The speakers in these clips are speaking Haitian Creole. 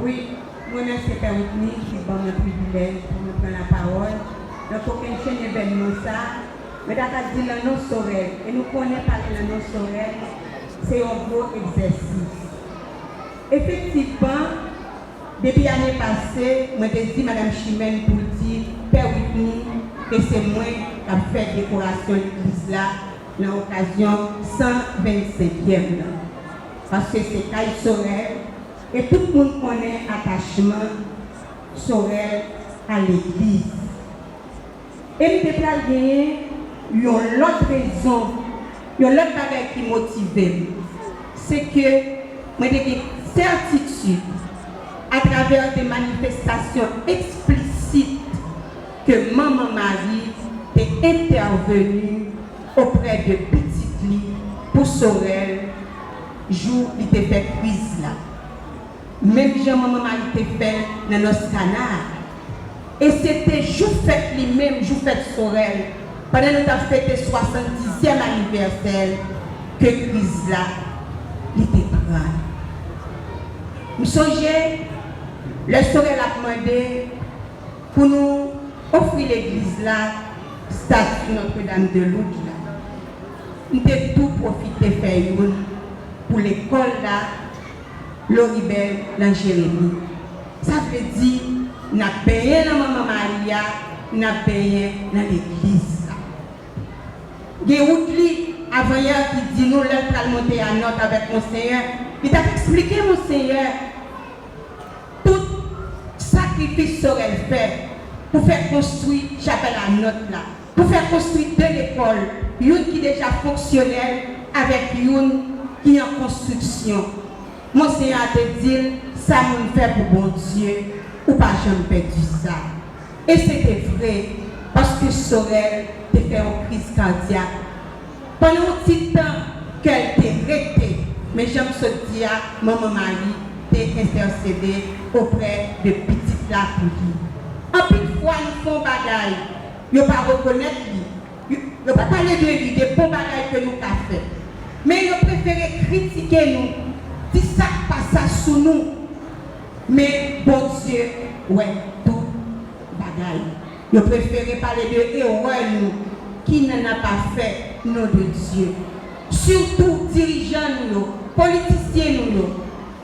Wi, m remèsye Pè Woodny ki te ban mwen privilèj pou mwen pran lapawòl nan kokennchenn evènman sa a. Mwen ta ka di lan non Sorèl, e nou konnen pale lan non Sorèl se yon gwo egzèsis. Efektivman, depi ane pase, mwen te di Madam Chimène pou l di Pè Woodny ke se mwen k ap fè dekorasyon legliz la lan okazyon 125 yèm lan, paske se kay Sorèl, E tout moun konnen atachman Sorel a legliz. E m te pral genyen yon lòt rezon, yon lòt bagay ki motive m. Se ke mwen te gen sètitid, atravè de manifestasyon eksplisit, ke Manman Mari te entèveni oprè de pitit li pou Sorel, jou li te fè kriz la. Menm jan manman Mayi te fè l nan nòs Kana a. E se te jou fèt li menm, jou fèt Sorèl, pandan nou t ap fete swasandizyèm anivèsè l, ke kriz la, li te pran l. M sonje, lè Sorèl ap mande pou nou ofri legliz la stati Notre Dame de Lourdes la. M te tou pwofite fè youn pou lekòl la Loribel nan Jeremi. Sa vle di n ap benyen nan Manman Mari a, n ap benyen nan legliz la. Gen wout li, avanyè an ki di nou lè l pral monte a Nantes avèk Monsenyè, li t ap eksplike Monsenyè tout sakrifis Sorel fè pou fè konstwi chapèl a Nantes la. Pou fè konstwi 2 lekòl, youn ki deja fonksyonèl avèk youn ki an konstriksyon. Monseyè a te di l, Sa moun fè pou Bondye, ou pa janm pèdi sa. E se te vre, paske Sorel te fè yon kriz kadyak. Pandan yon ti tan, kè l te rete, men jan m sot di a, Manman Mari te entèsede oprè de Pitit la pou li. Anpil fwa nou fè yon bagay. Yo pa rekonèt li. Yo pa pale de li, de bon bagay ke nou ka fè. Men yo prefere kritike nou, di sa k pa sa sou nou. Men Bondye wè tout bagay. Yo prefere pale de erè nou ki nan na pa fè non de Dye. Sitou dirijan nou yo, politisyen nou yo.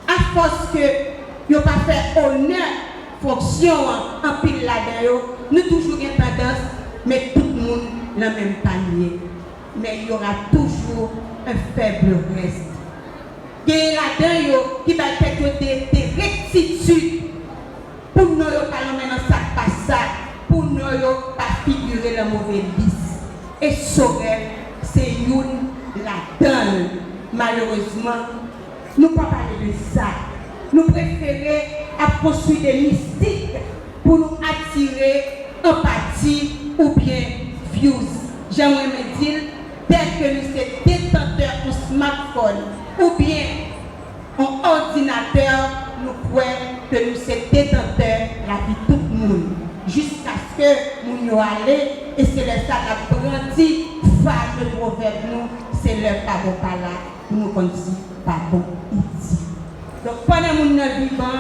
Afòs ke yo pa fè onè. fonksyon an anpil ladan yo nou toujou gen tandans met tout moun nan menm panye men il y aura toujours un faible reste genyen ladan yo ki bay tèt yo de de rectitude pou non yo pa lonmen nan sak pa sa pou non yo pa figure lan move lis e Sorel se youn ladanl malerezman Nou pa pale de sa. Nou prefere ap konstwi de mistik pou nou atire anpati oubyen vyouz. Jan m renmen di l, dèke nou se detantè on smatfòn oubyen on òdinatè, nou kwè ke nou se detantè lavi tout moun. Jiskaske moun yo ale, e se lè sa n ap brandi fame pwovèb nou, se lè pa bon pa la. pou nou konn si pa bon ou di. Donk pandan moun nan vivan,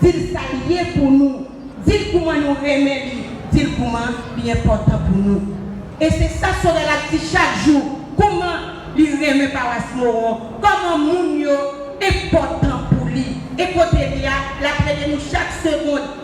di l sa l ye pou nou, di l kouman nou renmen li, di l kouman li enpòtan pou nou. E se sa Sorel ap di chak jou, kouman li renmen pawas Moron, kòman moun yo enpòtan pou li. E kote li a, l ap rele nou chak segond.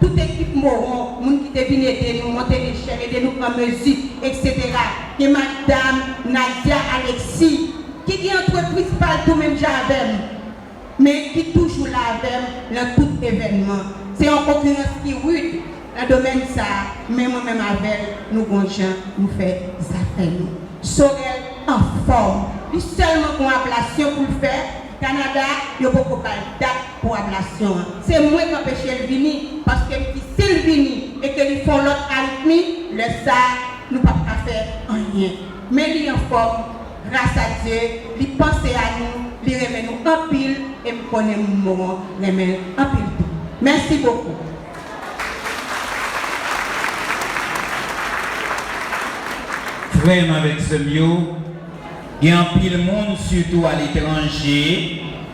tout ekip Moron, moun ki te vin ede nou monte lechèl, ede nou pran mezi, eksetera. Gen madam Nadia Alexis, ki gen antrepriz pa l tou menm jan avè m, men ki toujou la avè m nan tout evènman. Se yon konkirans ki rid nan domèn sa a, men mwen menm avè l, nou gon jan nou fè zafè nou. Sorel anfòm. Li sèlman gon ablasyon pou l fè. Kanada, yo poko ba l dat. pou ablasyon an. Se mwen k anpeche l vini, paske m di si l vini e ke li fè yon lòt aritmi, lè sa a, nou p ap ka fè anyen. Men li anfòm, grasa Dye, li panse a nou, li renmen nou anpil e m konnen moun Moron renmen l anpil tou. Mèsi bokou. Frè m avèk sè m yo, gen anpil moun, sitou aletranje,